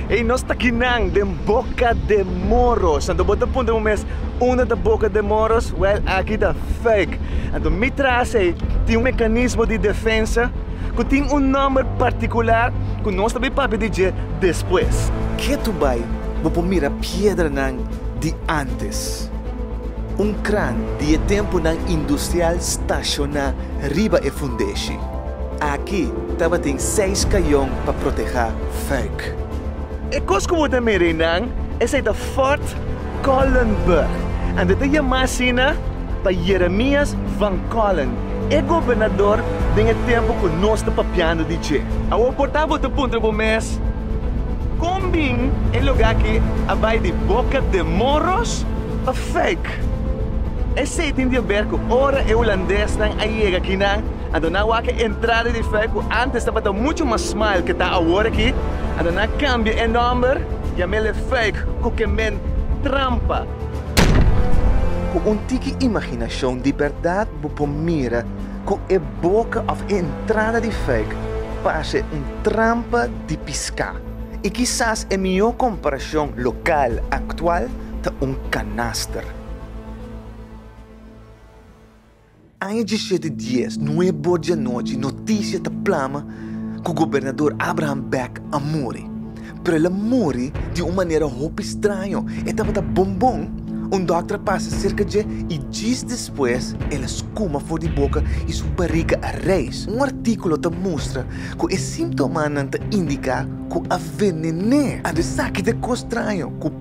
Ey nos ta aki nan den boca de moros anto bo ta puntra bo mes unda ta boca de moros well aki ta fake anto mi tras ey tin un mecanismo di defensa cu tin un nomber particular cu nos ta papia di dje despues. Ke tu bay bo por mira piedra nan di antes. Un kran di e tempunan industrial stashoná riba e fundeshi. Aki tabatin seis kayon pa protehá fuik. E kos ku bo ta mira einan, esei ta Fort Collenburg, anto e ta yamá asina pa Jeremias van Collen. E gobernador den e tempu ku nos ta papiando di dje. Awor por ta bo ta puntra bo mes, Kon bin e lugá aki a bai di boka dje morros? Pafèk, esei tin di haber ku ora e hulandesnan a yega akinan, a dona wak e entrada di fè ku ántes tabata muchu mas smal ke ta awor aki, a dona kambia e nòmber, yam'é lefèk, ku ke men trampa. Ku un tiki imaginashon di bèrdat bo por mira ku e boka òf e entrada di fake parse un trampa di piská. I kisas e mihó komparashon lokal aktual ta un kanaster. Aña djisiete dies, nue bor di anochi, noticia ta plama cu Gobernador Abraham Beck a muri. Pero el a muri di un manera hopi straño. E tabata bon bon. Un dokter a pasa cerca dje y djis despues el a scuma for di boca y su bariga a reis. Un articulo ta mustra cu e simtomanan ta indica cu a venene. Ando esaki ta e cos straño cu.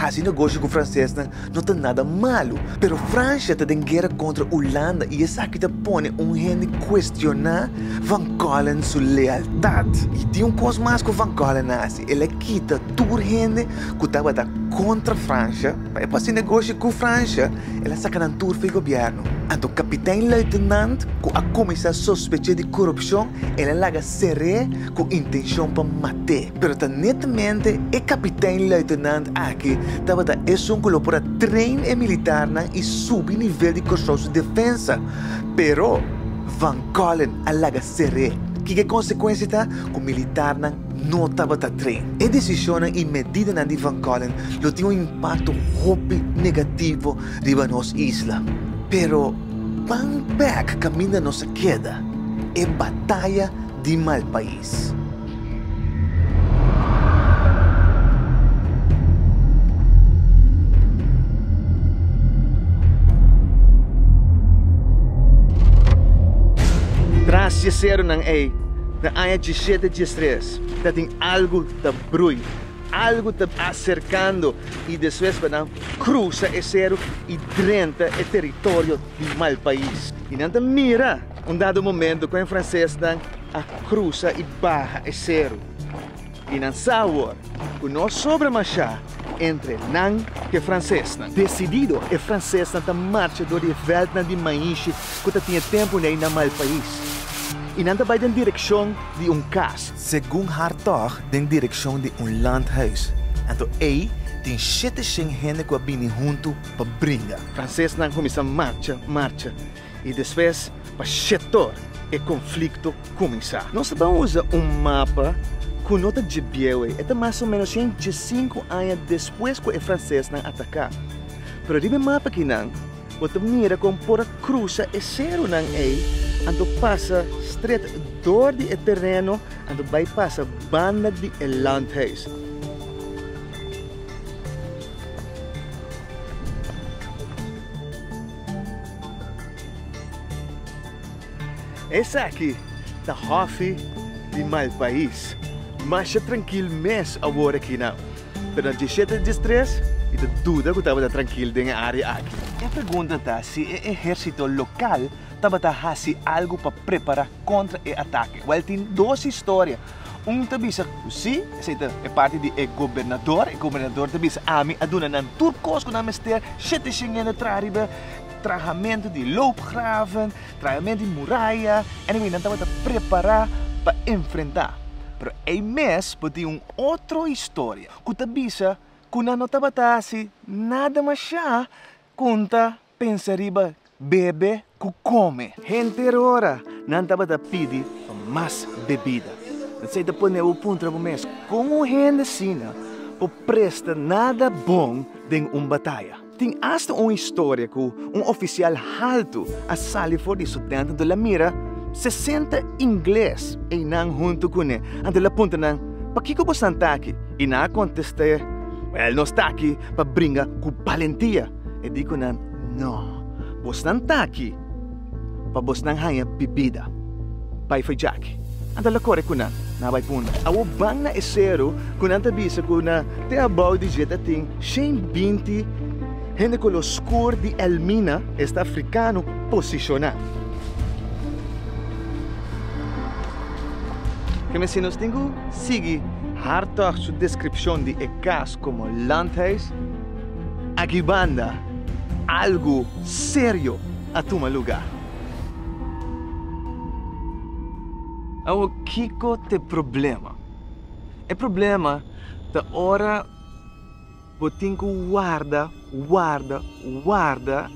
Hasi negoshi ku fransesnan no ta nada malu, pero Fransha ta den guera kontra Ulanda i esaki ta pone un hende kuestioná Van Keulen su lealtat. I tin un kos mas ku Van Keulen a hasi, el a kita tur hende ku tabata kontra Fransha pa e por hasi negoshi ku Fransha, el a saka nan tur for e gobièrnu. Anto kapitèn luitenant ku a kuminsá sospech'é di korupshon, el a laga ser'é ku intenshon pa mat'é. Pero ta netamente e kapitein-luitenant aki tabata esun ku lo por a train e militarnan i subi nivel di Kòrsou su defensa. Pero, Van Collen a laga ser'é. Kiko e konsekuensia ta? Ku militarnan no tabata train. E desishonnan i medidanan di Van Collen lo tin un impakto hopi negativo riba nos isla. Pero, pan pèk kaminda nos a keda? E bataya di malpais. Pais. Tras yeseronan ei, na aña djisiete diestres, tatin algu ta brui, algu ta aserkando i despues pa nan krusa e seru i drenta e teritorio di Malpais. I nan ta mira. Un dado momento cu e francesnan a crusa y baha e seru y nan sa awor cu no sobra masha entre nan cu e francesnan. Decidido, e francesnan ta marcha door di e veldnan di maishi cu ta tin e tempo n'ey na Malpais y nan ta bay den direccion di un cas, segun Hartog den direccion di un landhuis, anto ey tin shete shen hende cu a bini hunto pa bringa. Francesnan cuminsa marcha, marcha. I despues pa Shetor e konflikto kuminsá. Nos ta ban usa un mapa ku no ta dje bieu ei. E ta mas o ménos sien i dje sinku aña despues ku e fransesnan ataká. Pero riba e mapa akinan bo ta mira kon por a krusa e serunan ei, anto pasa stret dor di e tereno, anto bai pasa banda di e landhuis. Esaki ta hòfi di Malpais. Masha trankil mes awor aki na Pernal Djishete Djistres i ta duda ku tabata trankil den e área aki. E pregunta ta si e ehérsito lokal tabata hasi algu pa prepará kontra e atake. Wèl tin dos historia. Un ta bisa ku sí, esei ta e parti di e gobernador, e gobernador ta bisa, ami a duna nan tur kos ku nan mester, shete shengende traha riba trahamentu di loopgraven, trahamentu di muraya, anyway nan tabata prepará pa enfrentá. Pero ei mes bo tin un otro historia ku ta bisa ku nan no tabata hasi nada mashá konta Pensa riba bebe ku kome. Henter ora nan tabata pidi pa mas bebida. Esei ta pone bo puntra bo mes, Kon un hende asina por presta nada bon den un bataya? Tin asta un historia ku un ofisial haltu a sali for di su tènt anto el a mira sesenta ingles einan huntu kune anto el a puntra nan, Pakiko bonan ta aki? I nan a kontest'é, Wèl, nos ta aki pa bringa ku balentia. E di ku nan, No, bosnan ta aki pa bosnan haña bibida. Bai fajaki. Anto el a kore ku nan, nan a bai punta. Awor ban na e seru ku nan ta bisa ku na te abou di dje ta tin shen binti hende kolor oskur di Elmina, esta afrikano, posishoná. Ke mester nos tin ku sigui hartog su deskripshon di e kas komo landhuis? Aki banda algu serio a tuma luga. Awo kiko ta e problema? E problema ta ora bo tin ku warda, warda, warda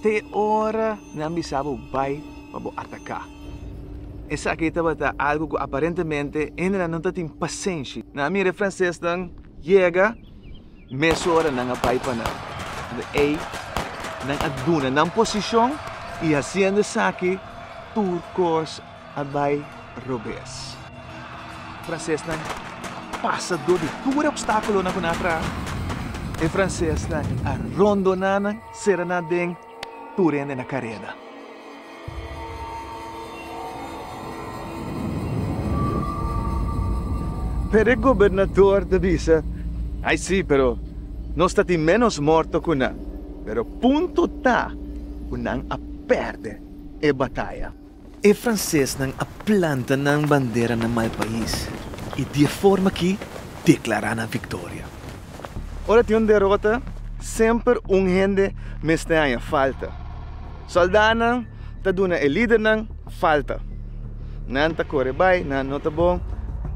te ora nan bisa bo bai pa bo ataka. Esaki tabata algu ku aparentemente hende nan no ta tin pasenshi. Nan a mira e francesnan yega. Mesora nan a bai pa nan, ande ei nan a duna nan posishon i hasiendo esaki tur kos a bai robes. Fransesnan pasa dor di tur e opstákulonan ku nan a traha. E fransesnan a rondoná nan, sera nan den. Tur hende na kareda. Pero e gobernador ta bisa, Ai si, pero nos ta tin ménos morto ku nan. Pero punto ta ku nan a pèrdè e bataya. E francesnan a planta nan bandera na mai pais y di e forma aki declara nan victoria. Ora tin un derota, semper un hende mester haña falta. Soldanan ta duna e lidernan falta. Nan ta core bay, nan no ta bon.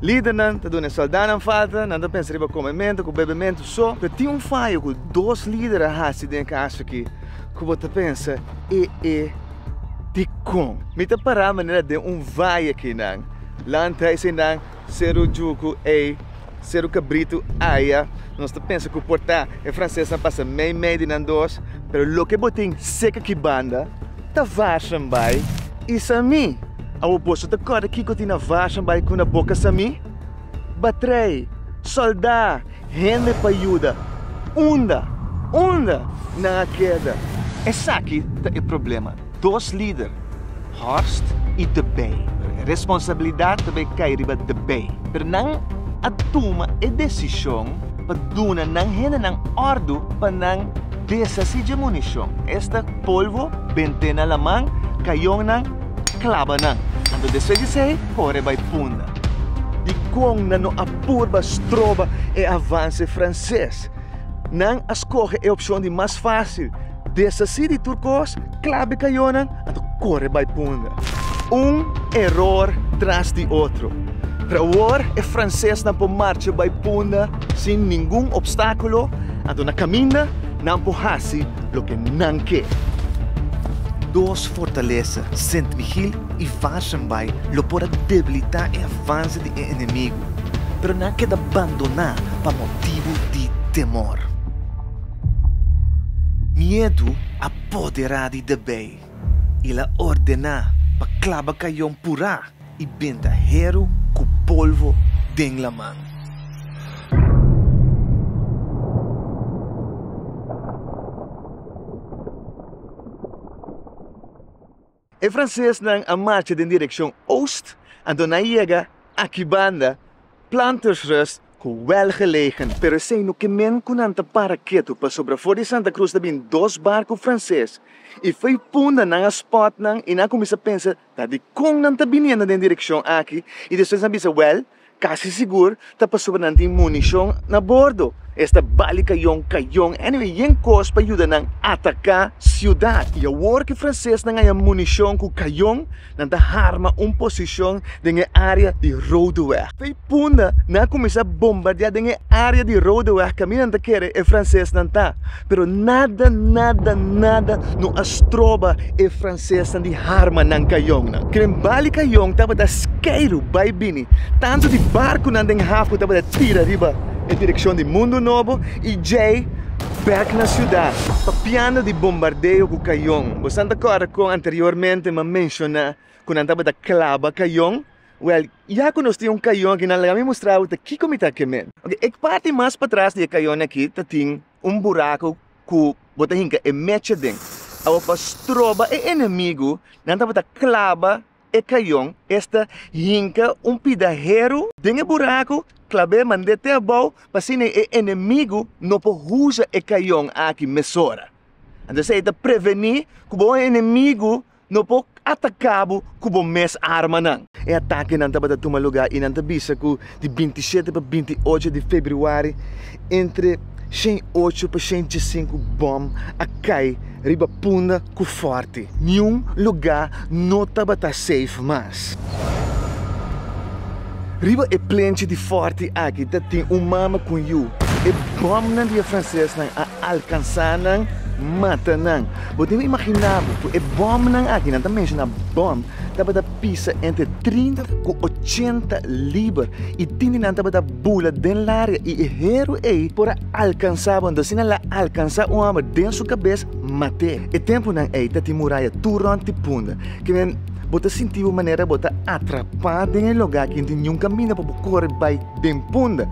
Lidernan ta duna e soldanan falta, nan ta pensa riba come mento cu bebe mento so. Pero tin un fayo cu dos lider a haci den e caso aki cu bo ta pensa, E e. Dikon? Mi ta pará manera den un vaya keinan, land hei seinan, seru juku ei, seru kabritu aya. Nos ta pensa ku por ta e fransesnan pasa mei mei di nan dos, pero loke bo tin serka ki banda ta Varsum bai i Sami. Awo boso ta kòrda kiko tin na Varsum bai ku na boka Sami? Ba trae soldá, hende pa yuda. Unda? Unda nan a keda? Esaki ta e problema. Dos lider, Horst i De Bay. E responsabilidat ta bay kai riba De Bay. Pero nan a tuma e desishon pa duna nan hendenan òrdu pa nan deshasí dje munishon. Esta, polvo, bentena laman, kayonnan. klaba nan. Anto despues di esei kore bai punda. Dikon nan no a purba stroba e avanse franses? Nan a skohe e opshon di mas fásil, deshasí di tur kos, klabe kayonan, anto kore bai punda. Un eror tras di otro. Pero awor e fransesnan por marcha bai punda sin ningun opstákulo, anto na kaminda nan por hasi. loke nan ke. Dos fortalesa, Sint Michiel i Varssenbay, lo por a debilitá e avanse di e enemigu, pero nan a keda bandoná pa motibu di temor. Miedu a poderá di Debey i el a ordená pa klaba kayon purá. I benta heru ku polvo den laman. E fransesnan a marcha den direkshon oost, anto nan yega aki banda Plantersrust ku wèl gelegen, pero esei no ke men ku nan ta para ketu pasobra for di Santa Cruz ta bin dos barku franses i fei punda nan a spòt nan i nan a kuminsá pensa Ta dikon nan ta biniendo den direkshon aki i despues nan bisa, Wèl, kasi sigur ta pasobra nan tin munishon na bordo. Es ta bali kayon kayon, anyway yen kos pa yuda nan ataká siudat. I awor ku fransesnan haña munishon ku kayon, nan ta harma un posishon den e área di Roodeweg. Vijf punda nan a kuminsá bombardiá den e área di Roodeweg kaminda nan ta kere e fransesnan ta. Pero nada nada nada no a stroba e francesnan di harma nan cajonnan. Keren bali cajon tabata skeru bay bini, tanto di barconan den hafu tabata tira riba e direccion di Mundo Nobo y djey bek na ciudad, papiando di bombardeo cu cajon. Bo san ta corda con anteriormente m'ha menciona cu nan tabata claba cajon? Wèl, ya ku nos tin un kayon aki, nan laga mi mustra bo ta kiko mi ta kem'é. Oke, e parti mas patras di e kayon aki ta tin un buraku ku bo ta hinka e mecha den. Awa pa stroba e enemigu, nan tabata klaba e kayon, esta hinka un pidaheru den e buraku, klab'é mand'é te abou, pa asina e enemigu no por huza e kayon aki mesora. Anto esei ta prevení ku bo enemigu No por atacabo cu bo mes armanan. E atakenan tabata tuma lugar y nan ta bisa cu di binti shete pa binti ocho di februari entre shen ocho pa shen djesinku bom a cay riba punda cu forti. Niun lugar no tabata safe mas. Riba e plenchi di forti aki ta tin un mama cu un yu. E bomnan di e francesnan a alcansa nan, mata nan. Bo debe imaginá bo ku e bòmnan aki, nan ta menshoná bòm, tabata pisa entre trinta ku ochenta liber i tin di nan tabata bula den laria i e heru ei por a alkansá bo. Anto si nan la alkansá un hòmber den su kabes, mat'é. E tempunan ei ta tin muraya tur rònt di punda. Kimen bo ta sinti bo manera bo ta atrapá den e lugá aki, ningún kaminda pa bo kore bai den punda.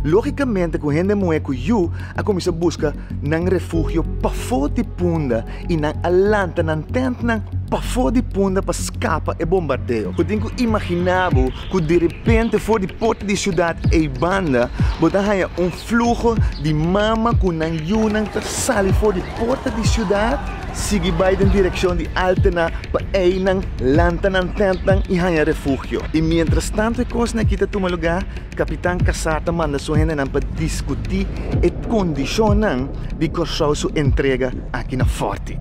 Lógikamente ku hende muhé ku yu a kuminsá buska nan refugio pafó di punda i nan a lanta nan tèntnan pafó di punda pa skapa e bombardeo. Bo tin ku imaginá bo ku derepente for di porta di siudat eibanda bo ta haña un fluho di mama ku nan yunan ta sali for di porta di siudat sigui bai den direkshon di Altena pa einan lanta nan tèntnan i haña refugio. I mientrastantu e kosnan akí ta tuma lugá. Kapitan Cassar ta manda su hendenan pa diskutí e kondishonnan di Kòrsou su entrega aki na fòrti.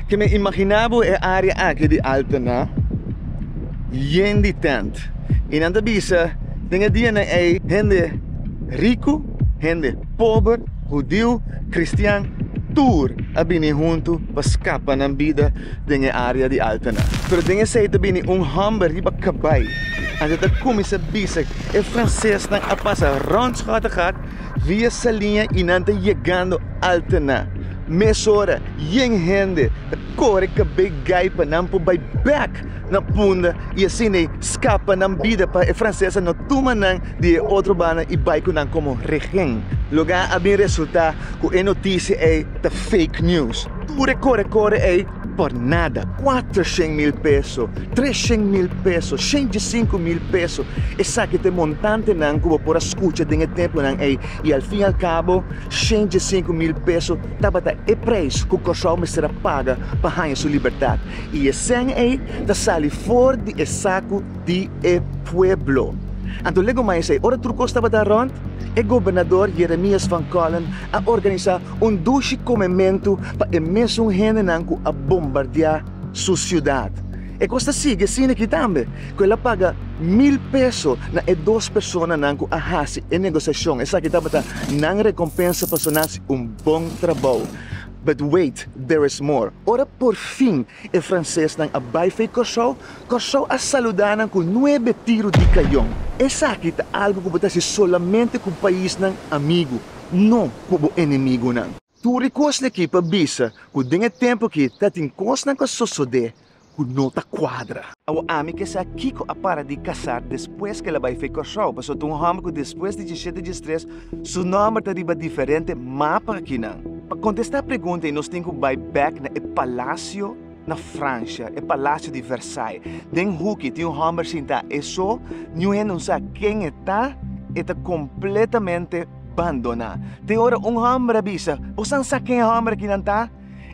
Ke mi imaginá bo e área aki di Altena yen di tènt i nan ta bisa den e dianan ei hende riku, hende pober, hudiu, kristian, tur a bini huntu pa skapa nan bida. den e área di Altena. Pero den esei ta bini un hòmber riba kabai en ta ta kuminsá bisa e fransesnan a pasa rònt Kattegat via Saliña i nan ta yegando Altena. Mesora yen hende ta kore kabei gai pa nan por bai bèk na punda i asin'ei skapa nan bida pa e fransesnan no tuma nan di e otro banda i bai ku nan komo rehen. Loke a bin resultá ku e notisia ei ta fake news. Tur e kore kore ei por nada, kuatershen mil peso, treshen mil peso, shenti i sinku mil peso, esaki ta e montantenan ku bo por a skucha den e tempunan ei, i al fin al kabo shenti i sinku mil peso tabata e preis ku Kòrsou mester a paga pa haña su libertat, i e sèn ei ta sali for di e saku di e pueblo. Anto lego mais ei, ora tur kos tabata rònt, e gobernador Jeremias van Collin a organisá un dushi komementu pa e mesun hendenan ku a bombardiá su siudat. E kos ta sigui asina aki tambe, ku el a paga mil peso na e dos personanan ku a hasi e negosiashon. Esaki tabata nan rekompensa pa su nasi un bon trabou. But wait, there is more. Ora por fin e fransesnan a bai fei Kòrsou, Kòrsou a saludá nan ku nuebe tiru di kayon. Esaki ta algu ku bo ta hasi solamente ku paisnan amigu. no ku bo enemigunan. Tur e kosnan aki pa bisa ku den e tempu aki ta tin kosnan ku a sosodé ku no ta kuadra. Awo ami ke sa kiko a para di kasá despues ku el a bai fei Kòrsou, pasobra ta un hòmber ku despues di dieshete diestres su nòmber ta riba diferente mapa akinan. Pa kontestá pregunta ei nos tin ku bai bèk na e palasio. Na Francia, e palacio di Versailles, den huki tin un homber sinta eso niun hende no sa ken e ta, e ta completamente bandona. Tin ora un homber a bisa, Bo san sa ken e homber aki nan ta?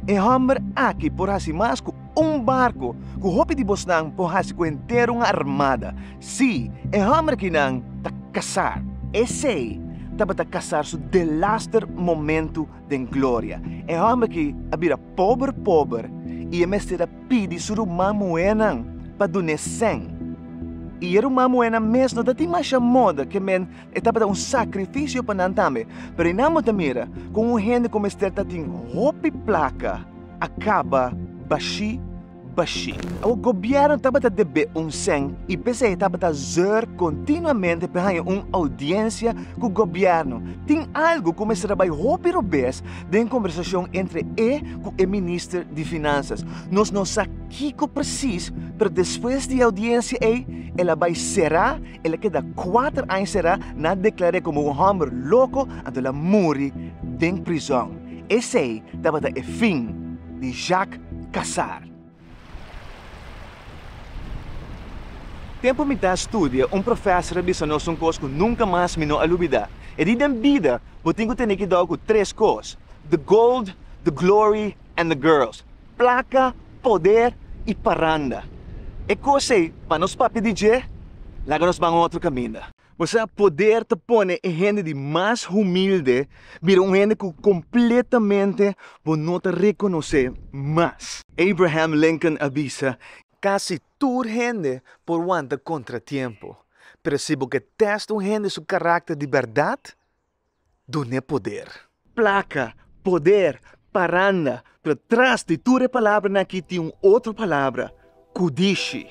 E homber aki por hasi mas cu un barco cu hopi di bosnan por hasi cu henter un armada. Si, e homber aki nan ta casar. Esey tabata casar su delaster momento. den gloria. E hòmber aki a bira pober pober i e mester a pidi su ruman muhénan pa dun'é sèn. I e ruman muhénan mes no ta tin masha moda, ke men e tabata un sakrifisio pa nan tambe. Pero i nan bo ta mira kon un hende ku mester ta tin hopi plaka a kaba bashí. Bashí. Awa gobièrnu tabata debé un sèn i p'esei e tabata zòr kontinuamente pa e haña un oudiensia ku gobièrnu. Tin algu ku mester a bai hopi robes den kombersashon entre e ku e minister di Finansas. Nos no sa kiko presis, pero despues di e oudiensia ei, el a bai será, el a keda kuater aña será, nan a deklar'é komo un hòmber loko, anto el a muri den prizòn. Esei tabata e fin di Jacques kasar. Tempu mi ta studia, un profèser a bisa nos un kos ku nunka mas mi no a lubidá, e di, Den bida bo tin ku tene kidao ku tres kos, the gold, the glory and the girls, plaka, poder i paranda. E kos ei, pa nos papia di dje, laga nos ban un otro kaminda. Bo sa, poder ta pone e hende di mas humilde bira un hende ku kompletamente bo no ta rekonosé mas. Abraham Lincoln a bisa, Kasi tur hende por wanta kontratiempo, pero si bo ke tèst un hende su karakter di bèrdat, dun'é poder. Plaka, poder, paranda, pero tras di tur e palabranan akí tin un otro palabra, ku dishi.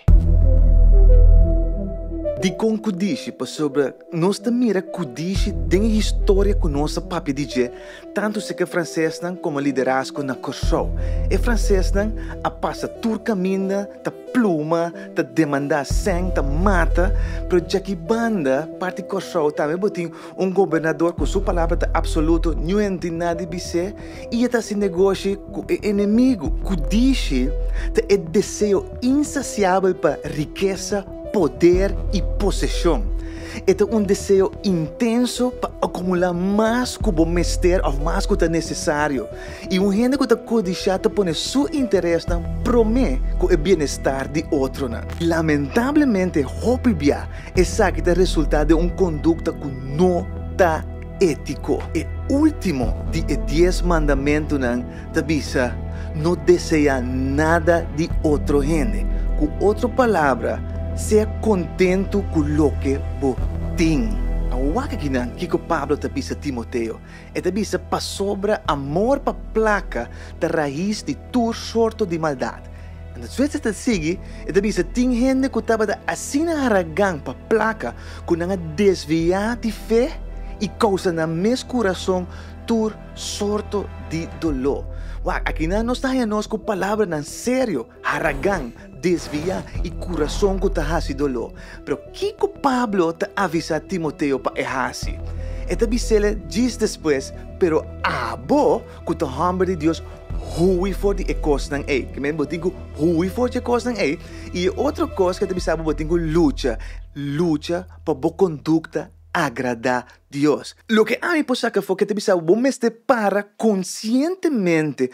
Dikon ku dishi? Pasobra nos ta mira ku dishi den e historia ku nos a papia di dje, tantu si ke fransesnan komo liderazgo na Kòrsou. E fransesnan a pasa tur kaminda ta pluma, ta demandá sèn, ta mata, pero djaki banda parti Kòrsou tambe bo tin. Un gobernador cu su palabra ta absoluto, niun hende nadi bis'é y e ta haci negoshi cu e enemigo. Cu dici ta e deseo insaciabel pa rikesa, poder y posesion. E ta un deseo intenso pa acumula mas cu bo mester of mas cu ta necesario. Y un hende cu ta codisha ta pone su interesnan prome cu e bienestar di otronan. Lamentablemente hopi bia Esaki ta resultá den un kondukta ku no ta étiko. E último di e dies mandamentunan ta bisa, No deseá nada di otro hende. Ku otro palabra, sea kontentu ku loke bo tin. A wak akinan kiko Pablo ta bisa Timoteo, E ta bisa, Pasobra amor pa plaka ta rais di tur sorto di maldat. Anto Switzer ta sigui, e ta bisa, Tin hende ku tabata asina haragan pa plaka ku nan a desviá di fe i kousa nan mes kurason tur sorto di doló. Wak, akinan nos ta haña nos ku palabranan serio. Haragan, desviá i kurason ku ta hasi doló. Pero kiko Pablo ta avisá Timoteo pa e hasi? E ta bis'el, Djis despues, pero abo ku ta hòmber di Dios, hui for di e kosnan ei. Ke men bo tin ku hui for dje kosnan ei? I e otro kos ke ta bisa bo bo tin ku lucha, lucha pa bo kondukta agradá Dios. Loke ami por saka for ke ta bisa bo bo mester para konsientemente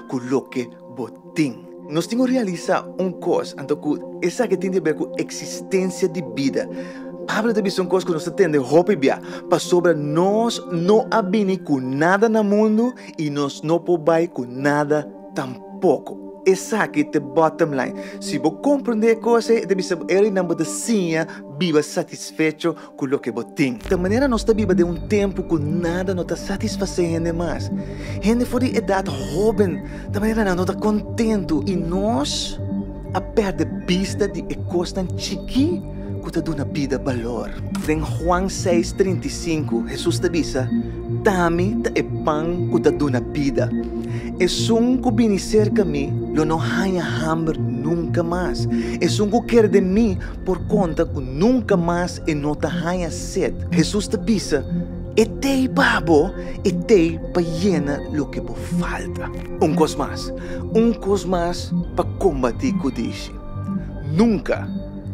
ku loke bo tin. Nos tin ku realisá un kos, anto ku esaki tin di ber ku eksistensia di bida. Pablo ta bisa un kos ku nos ta tende hopi bia, Pasobra nos no a bini ku nada na mundu i nos no por bai ku nada tampoko. Esaki ta bottom line. Si bo komprondé e kos ei, e ta bisa bo e rinan bo ta siña biba satisfecho ku loke bo tin. Ta manera nos ta biba den un tempu ku nada no ta satisfasé hende mas. Hende for di edat hóben ta manera nan no ta kontentu i nos a pèrdè bista di e kosnan chikí ku ta duna bida balor. Den Juan seis trinta i sinku, Hesus ta bisa, Tami ta e pan ku ta duna bida. Esun ku bini serka mi lo no haña hamber nunka mas. Esun ku kere den mi Por konta ku nunka mas e no ta haña set. Hesus ta bisa, E tei pa bo e tei pa yena loke bo falta. Un kos mas, un kos mas pa kombatí ku dishi. Nunka,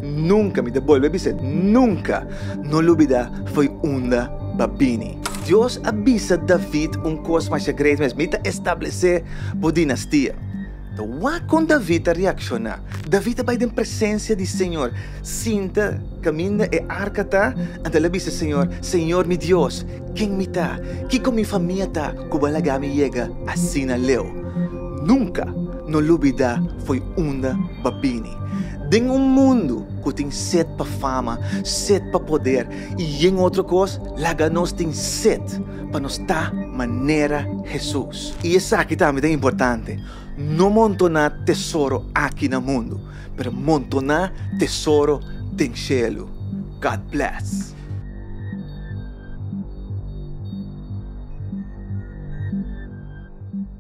nunka, mi ta bolbe bisa et, nunka no lubidá foi unda b'a bini. Dios a bisa David un kos mashá great mes, Mi ta establesé bo dinastia. Ta wak kon David ta reakshoná. David a bai den presensia di Señor. Sinta kaminda e arka ta, anto el a bisa Señor, Señor mi Dios, ken mi ta? Kiko mi famia ta ku bo a laga mi yega asina leu? Nunka no lubidá fo'i unda b'a bini. Den un mundu ku tin set pa fama, set pa poder i yen otro kos, laga nos tin set. pa nos ta manera Hesus. I esaki tambe ta importante, no montoná tesoro aki na mundu, pero montoná tesoro den shelu. God bless.